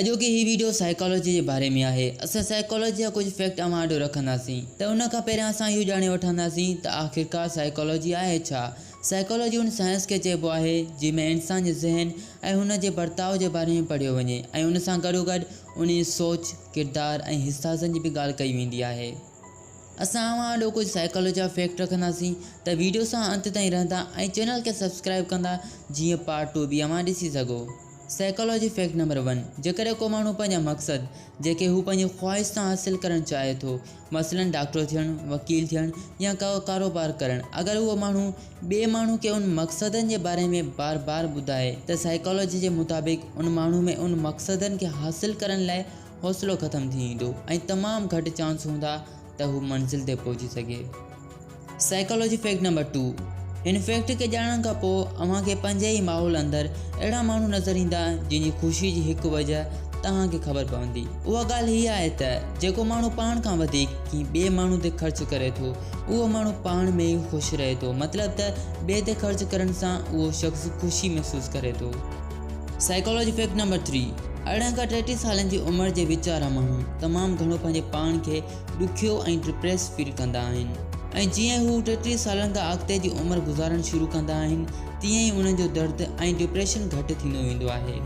اڄوڪي هي video psychology جي باري ۾ آهي. اسان سائيڪالوجي جا ڪجهه فيڪٽ اوهان آڏو رکنداسين ته ان کان پهريان اسان اهو ڄاڻي وٺنداسين ته آخرڪار سائيڪالوجي آهي ڇا؟ سائيڪالوجي ان سائنس کي چئبو آهي جنهن ۾ انسان جي ذهن ۽ هن جي برتاء جي باري ۾ پڙهيو وڃي ۽ ان سان گڏوگڏ انهي جي سوچ، ڪردار ۽ حساسين جي به ڳالهه ڪئي ويندي آهي. اسان اوهان آڏو ڪجهه سائيڪالوجي جا فيڪٽ رکنداسين ته ويڊيو سان انت تائين رهندا ۽ چينل کي سبسڪرائيب ڪندا جيئن پارٽ ٽو به اوهان ڏسي سگهو سائيڪالوجي فيڪٽ نمبر ون جيڪڏهن ڪو ماڻهو پنهنجا مقصد جيڪي هو پنهنجي خواهش سان حاصل ڪرڻ چاهي ٿو مثلا ڊاڪٽر ٿيڻ وڪيل ٿيڻ يا ڪو ڪاروبار ڪرڻ اگر اهو ماڻهو ٻئي ماڻهو کي ان مقصدن جي باري ۾ بار بار ٻڌائي ته سائيڪالوجي جي مطابق ان ماڻهو ۾ ان مقصدن کي حاصل ڪرڻ لاء حوصلو ختم ٿي ويندو ۽ تمام گهٽ چانس هوندا ته هو منزل تي پهچي سگهي سائيڪالاجي فيڪٽ نمبر ٽو هن فيڪٽ کي ڄاڻڻ کان پوء اوهان کي پنهنجي ئي ماحول اندر اهڙا ماڻهو نظر ايندا جن جي خوشي جي هڪ وجه توهان کي خبر پوندي اها ڳالهه هيء آهي ته جيڪو ماڻهو پاڻ کان وڌيڪ ڪنهن ٻئي ماڻهو تي خرچ ڪري ٿو اهو ماڻهو پاڻ ۾ ئي خوش رهي ٿو مطلب ته ٻئي تي خرچ ڪرڻ سان اهو شخص خوشي محسوس ڪري ٿو سائيڪالاجي فيڪٽ نمبر ٿري، ارڙهن کان ٽيٽيهه سالن جي عمر جي وچ وارا ماڻهو تمام گهڻو پنهنجي پاڻ کي ڏکيو ۽ ڊپريس فيل ڪندا آهن ۽ جيئن هو ٽيٽيهه سالن کان اڳتي جي عمر گذارڻ شروع ڪندا آهن تيئن ئي انهن جو درد ۽ ڊپريشن گهٽ ٿيندو ويندو آهي.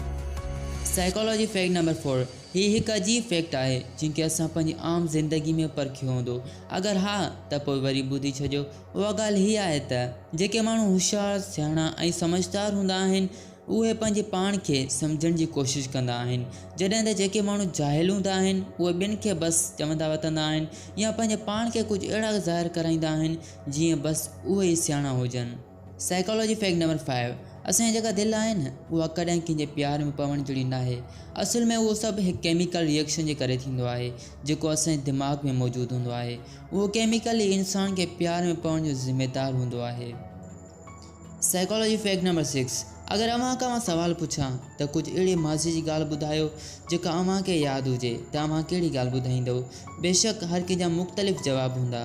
سائيڪالاجي فيڪٽ نمبر فور، هي هڪ عجيب فيڪٽ آهي جنهن کي اسان پنهنجي عام زندگي ۾ پرکيو هوندو، اگر ها ته پوء وري ٻڌي ڇڏيو، اها ڳالهه هيء آهي ته جيڪي ماڻهو هوشيار، سياڻا ۽ سمجهدار هوندا آهن، اهي پنهنجي پاڻ کي سمجهڻ جي ڪوشش ڪندا آهن، جڏهن ته جيڪي ماڻهو جاهل هوندا آهن، اهي ٻين کي بس چوندا وتندا آهن يا پنهنجي پاڻ کي ڪجهه اهڙا ظاهر ڪرائيندا آهن، جيئن بس اهي ئي سياڻا هجن. Psychology Fact No. Five، اسان جي جيڪا دل آهي نه، اها ڪڏهن ڪنهن جي پيار ۾ پوڻ جهڙي ناهي. اصل ۾ اهو سڀ هڪ ڪيميڪل ريئيڪشن جي ڪري ٿيندو آهي، جيڪو اسان جي دماغ ۾ موجود هوندو آهي. اهو ڪيميڪل ئي انسان کي پيار ۾ پوڻ جو ذميدار هوندو آهي. سائيڪالاجي فيڪٽ نمبر سڪس، اگر اوهان کان مان سوال پڇان ته ڪجهه اهڙي ماضي جي ڳالهه ٻڌايو جيڪا اوهان کي ياد هجي ته اوهان ڪهڙي ڳالهه ٻڌائيندؤ؟ بيشڪ هر ڪنهن جا مختلف جواب هوندا.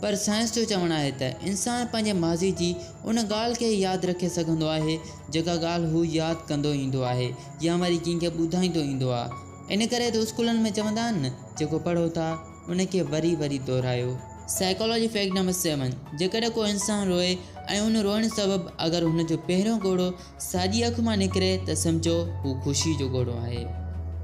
پر سائنس جو چوڻ آهي ته انسان پنهنجي ماضي جي ان ڳالهه کي ئي ياد رکي سگهندو آهي جيڪا ڳالهه هو ياد ڪندو ايندو آهي يا وري ڪنهن کي ٻڌائيندو ايندو آ. ان ڪري ته اسڪولن ۾ چوندا آهن نه جيڪو پڙهو ٿا. ان کي وري وري دهرايو. سائيڪالاجي فيڪٽ نمبر سيون، جيڪڏهن ڪو انسان روئي ۽ ان روئڻ سبب اگر هن جو پهريون ڳوڙهو ساڄي اک مان نڪري ته سمجهو هو خوشي جو ڳوڙهو آهي.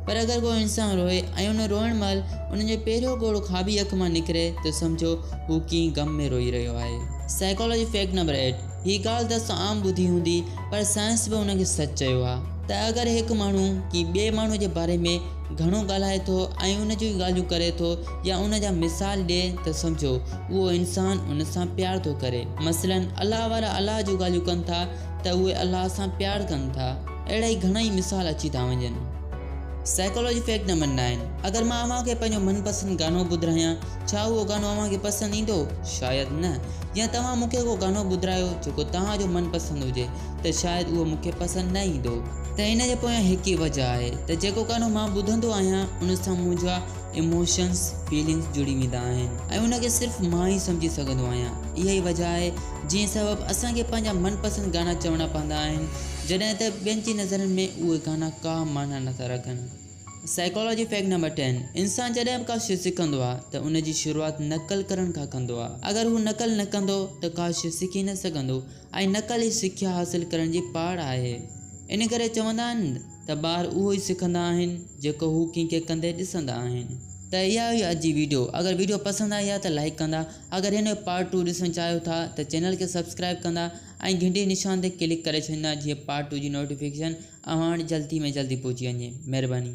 پر اگر ڪو انسان روئي ۽ ان روئڻ مهل ان جو پهريون ڳوڙهو کاٻي اک مان نڪري ته سمجهو هو ڪنهن غم ۾ روئي رهيو آهي. سائيڪالاجي فيڪٽ نمبر ايٽ، هي ڳالهه ته اسان عام ٻڌي هوندي پر سائنس به ان کي سچ چيو آهي ته اگر هڪ ماڻهو ڪنهن ٻئي ماڻهو جي باري ۾ گهڻو ڳالهائي ٿو ۽ ان جون ڳالهيون ڪري ٿو يا ان جا مثال ڏئي ته سمجهو اهو انسان ان سان پيار ٿو ڪري. مثلاً الله وارا الله جون ڳالهيون ڪن ٿا ته اهي الله سان پيار ڪن ٿا. اهڙا ئي گهڻا ئي مثال اچي ٿا وڃن. سائيڪالاجي فيڪٽ نمبر نائن، اگر مان اوهان کي پنهنجو من پسند گانو ٻڌرايان، ڇا اهو گانو اوهان کي پسند ايندو؟ شايد نه. يا توهان مون کي ڪو گانو ٻڌرايو جيڪو توهان جو من پسند هجي. ته شايد اهو مون کي پسند نه ايندو. ته ان جي پويان هڪ ئي وجهه آهي ته جيڪو گانو مان ٻڌندو آهيان ان سان منهنجا ايموشنز، فيلنگز جڙي ويندا آهن ۽ ان کي صرف مان ئي سمجهي سگهندو آهيان. اها ئي وجهه آهي جنهن سبب اسان کي پنهنجا من پسند گانا چوڻا پوندا آهن جڏهن ته ٻين جي نظرن ۾ اهي گانا ڪا معنيٰ نٿا رکن. سائيڪالاجي فيڪٽ نمبر ٽين، انسان جڏهن به ڪا شيء سکندو آهي ته ان جي شروعات نقل ڪرڻ کان ڪندو آهي. اگر هو نقل نه ڪندو ته ڪا شيء سکي نه سگهندو ۽ نقل ئي سکيا حاصل ڪرڻ جي پاڙ آهي. ان ڪري چوندا آهن ته ٻار اهو ئي سکندا آهن جيڪو هو ڪنهن کي ڪندي ڏسندا آهن. ته اها هئي اڄ جي ويڊيو اگر ويڊيو پسند آئي ها ته لائيڪ ڪندا اگر هن جو پارٽ ٽو ڏسڻ چاهيو ٿا ته چينل کي سبسڪرائيب ڪندا ۽ گهنٽي نشان تي ڪلڪ ڪري ڇڏيندا جيئن پارٽ ٽو جي نوٽيفڪيشن اوهان وٽ جلدي ۾ جلدي پهچي وڃي مهرباني.